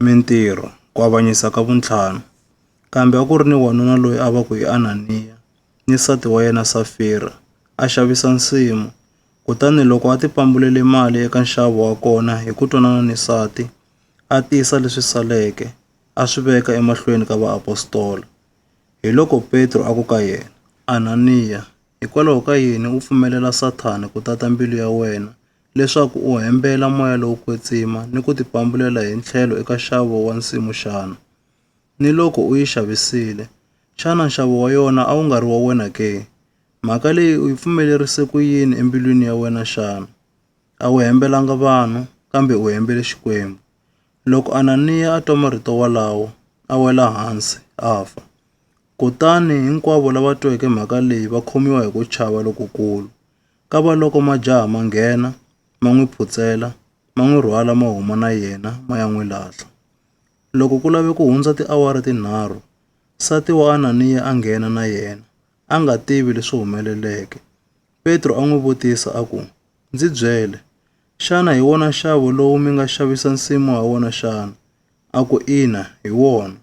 mintirho, ku avanyisa ka vuntlhanu. Kambe a ku ri ni wanuna loyi a va ku i Ananiya, ni nsati wa yena Safira, a xavisa nsimu. Kutani loko a ti pambulele mali eka nxavo wa kona hi ku twanana ni nsati, a tisa leswi saleke, a swi veka emahlweni ka vaapostola. Hiloko Petro a ku ka yena, Ananiya, hikwalaho ka yini u pfumelela Sathana ku tata mbilu ya wena leswaku u hembela moya lowo kwetsima ni ku tipambulela hi ntlhelo eka nxavo wa nsimu xana? Ni loko u yi xavisile, xana nxavo wa yona a wu nga ri wa wena ke? Mhaka leyi u yi pfumelerise ku yini embilwini ya wena xana? A wu hembelanga vanhu, kambe u hembele Xikwembu. Loko Ananiya a twa marito walawo, a wela hansi, a fa. Kutani hinkwavo lava tweke mhaka leyi va khomiwa hi ku chava lokukulu. Kavaloko majaha ma nghena, ma n'wi phutsela, ma n'wi rhwala ma huma na yena ma ya n'wi lahla. Loko ku lave ku hundza tiawara tinharhu, nsati wa Ananiya a nghena na yena, a nga tivi leswi humeleleke. Petro a n'wi vutisa a ku, Ndzi byele, xana hi wona nxavo lowu mi nga xavisa nsimu ha wona xana? A ku, Ina, hi wona.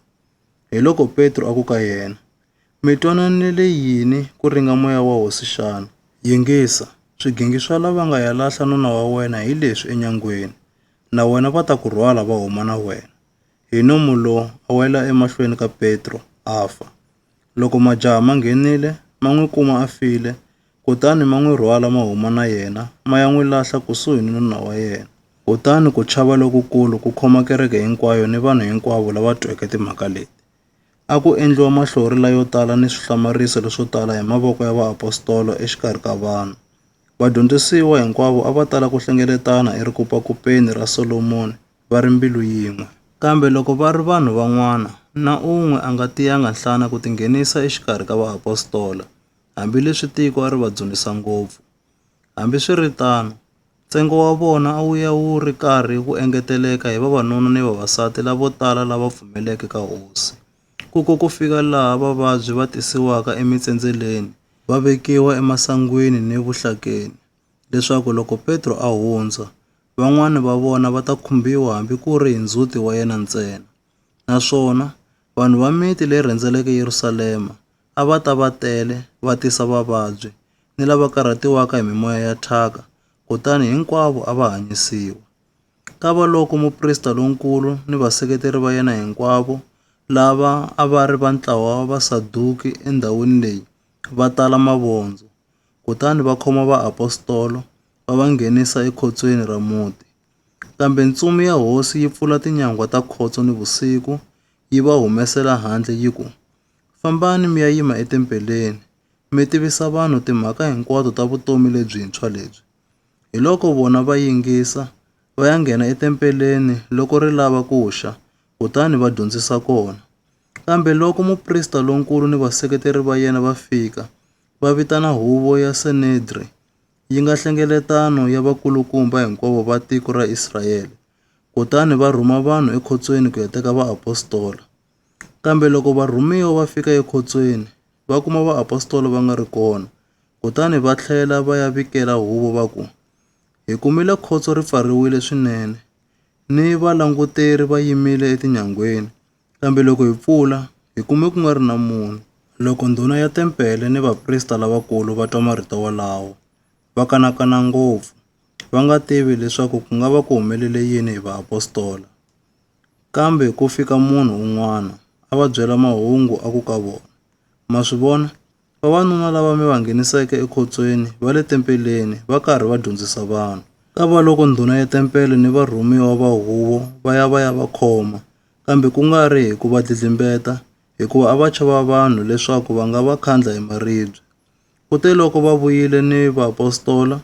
Hiloko Petro a ku ka yena, Mi twananele yini ku ringa moya wa hosi xana? Yingisa, swigingi swa lava nga ya lahla nuna wa wena hi leswi enyangweni, na wena va ta ku rhwala va huma na wena. Hi nomu lo a wela emahlweni ka Petro, a fa. Loko majaha ma nghenile, ma n'wi kuma a file, kutani ma n'wi rhwala ma huma na yena, ma ya n'wi lahla kusuhi ni nuna wa yena. Kutani ku chava lokukulu ku khoma kereke hinkwayo ni vanhu hinkwavo lava tweke timhaka leti. A ku endliwa mahlori layo tala ni swihlamarisa leswo tala hi mavoko ya vaapostola exikarhi ka vanhu. Vadyondzisiwa hinkwavo a va tala ku hlengeletana erikupakupeni ra Solomoni va ri mbilu yin'we. Kambe loko va ri vanhu van'wana, na un'we a nga tiyanga nhlana ku tinghenisa exikarhi ka vaapostola, hambileswi tiko a ri va dzunisa ngopfu. Hambiswiritano, Ntsengo wa vona a wu ya wu ri karhi wu engeteleka hi vavanuna ni vavasati lavo tala lava pfumeleke ka hosi, ku ko ku fika laha vavabyi va tisiwaka emitsendzeleni va vekiwa emasangwini ni vuhlakeni, leswaku loko Petro a hundza, van'wana va vona va ta khumbiwa hambi ku ri hi ndzhuti wa yena ntsena. Naswona, vanhu va miti leyi rhendzeleke Yerusalema a va ta va tele va tisa vavabyi ni lava karhatiwaka hi mimoya ya thyaka, kutani hinkwavo a va hanyisiwa. Kavaloko muprista lonkulu ni vaseketeri va yena hinkwavo, lava a va ri va ntlawa wa Vasaduki endhawini leyi, va tala mavondzo, kutani va khoma vaapostolo va va nghenisa ekhotsweni ra muti. Kambe ntsumi ya hosi yi pfula tinyangwa ta khotso nivusiku, yi va humesela handle yi ku, Fambani mi ya yima etempeleni, mi tivisa vanhu timhaka hinkwato ta vutomi lebyintshwa lebyi. Hiloko vona va yingisa, va ya nghena etempeleni loko ri lava ku xa, kutani va dyondzisa kona. Kambe loko muprista lonkulu ni vaseketeri va yena va fika, va vitana huvo ya Senedri, yi nga hlengeletano ya vakulukumba hinkwavo va tiko ra Israele, kutani va rhuma vanhu ekhotsweni ku ya teka vaapostola. Kambe loko varhumiwa va fika ekhotsweni, va kuma vaapostola va nga ri kona. Kutani va tlhela va ya vikela huvo va ku, Hi kumile khotso ri pfariwile swinene, ni valanguteri va yimile etinyangweni, kambe loko hi pfula, hi kume ku nga ri na munhu. Loko ndhuna ya tempele ni vaprista lavakulu va twa marito wolawo, va kanakana ngopfu, va nga tivi leswaku ku nga va ku humelele yini hi vaapostola. Kambe ku fika munhu un'wana, a va byela mahungu a ku ka vona, Ma swi vona? Vavanuna lava mi va ngheniseke ekhotsweni va le tempeleni va karhi va dyondzisa vanhu. Kavaloko ndhuna ya tempele ni varhumiwa va huvo va ya va ya va khoma, kambe ku nga ri hi ku va dlidlimbeta, hikuva a va chava vanhu leswaku va nga va khandla hi maribye. Kuteloko va vuyile ni vaapostola,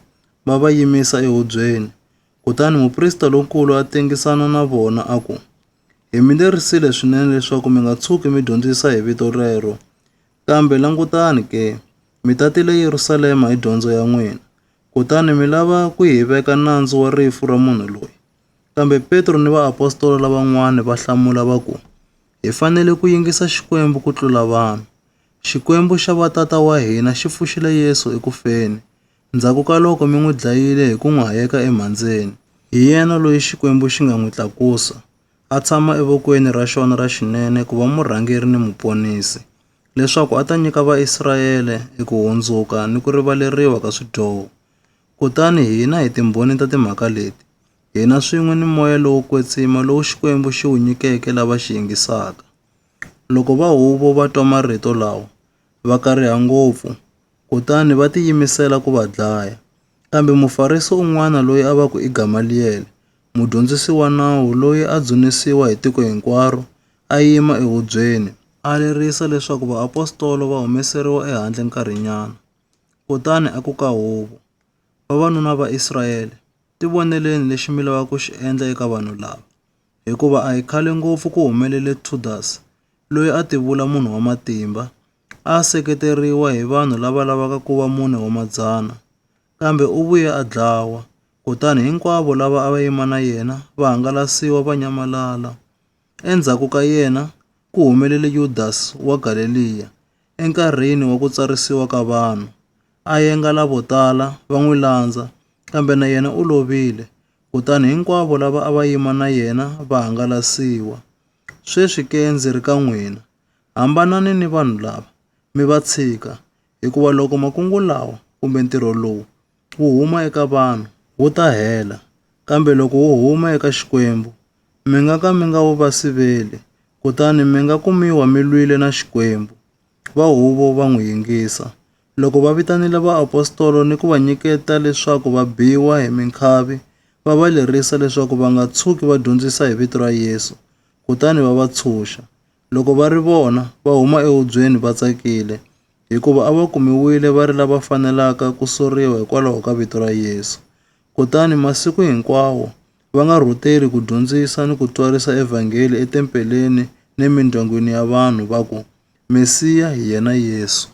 va va yimisa ehubyeni, Kutani muprista lonkulu a tengisana na vona a ku, Hi mi lerisile swinene leswaku mi nga tshuki mi dyondzisa hi vito rero. Kambe langutani ke, mi tatile Yerusalema hi dyondzo ya n'wina, kutani mi lava ku hi veka nandzu wa rifu ra munhu loyi. Kambe Petro ni vaapostola lavan'wana va hlamula va ku, Hi fanele ku yingisa Xikwembu ku tlula vanhu. Xikwembu xa vatata wa hina xi pfuxile Yesu eku feni, Ndzhaku ka loko mi n'wi dlayile hi ku n'wi hayeka emhandzeni, hi yena loyi Xikwembu xi nga n'wi tlakusa, a tshama evokweni ra xona ra xinene ku va murhangeri ni muponisi, leswaku a ta nyika Vaisrayele eku hundzuka ni ku rivaleriwa ka swidyoho. Kutani hina hi timbhoni ta timhaka leti, hina swin'we ni moya lowo kwetsima lowu Xikwembu xi wu nyikeke lava xi yingisaka. Loko va huvo va twa marito lawa, va kariha ngopfu, kutani va tiyimisela ku va dlaya. Kambe Mufarisi un'wana loyi a va ku i Gamaliyele, mudyondzisi wa nawu loyi a dzunisiwa hi tiko hinkwaro, a yima ehubyeni, a lerisa leswaku vaapostolo va humeseriwa ehandle nkarhinyana. Kutani a ku ka huvo, Vavanuna va Israyele, tivoneleni lexi mi lavaka ku xi endla eka vanhu lava, hikuva a hi khale ngopfu ku humelele Thudasi, loyi a tivula munhu wa matimba, a a seketeriwa hi vanhu lava lavaka ku va mune wa madzana, kambe u vuye a dlawa, kutani hinkwavo lava a va yima na yena va hangalasiwa va nyamalala. Endzhaku ka yena ku humelele Yudasi wa Galeliya, enkarhini wa ku tsarisiwa ka vanhu, a yengala vo tala va n'wi landza, kambe na yena u lovile, kutani hinkwavo lava a va yima na yena va hangalasiwa. Sweswi ke ndzi ri ka n'wina. Hambanani ni vanhu lava, mi va tshika, hikuva loko makungu lawa kumbe ntirho lowu wu huma eka vanhu, wu ta hela, kambe loko wu huma eka Xikwembu, mi nga ka mi nga wu va siveli, kutani mi nga kumiwa mi lwile na Xikwembu. Va huvo va n'wi yingisa. Loko va vitanile vaapostolo ni ku va nyiketa leswaku va biwa hi minkhavi, va va lerisa leswaku va nga tshuki va dyondzisa hi vito ra Yesu, kutani va va tshunxa. Loko va ri vona, va huma ehubyeni va tsakile, hikuva a va kumiwile va ri lava fanelaka ku soriwa hikwalaho ka vito ra Yesu. Kutani masiku hinkwawo va nga rhuteli ku dyondzisa ni ku twarisa evhangeli etempeleni ni emindyangwini ya vanhu, va ku, Mesiya hi yena Yesu.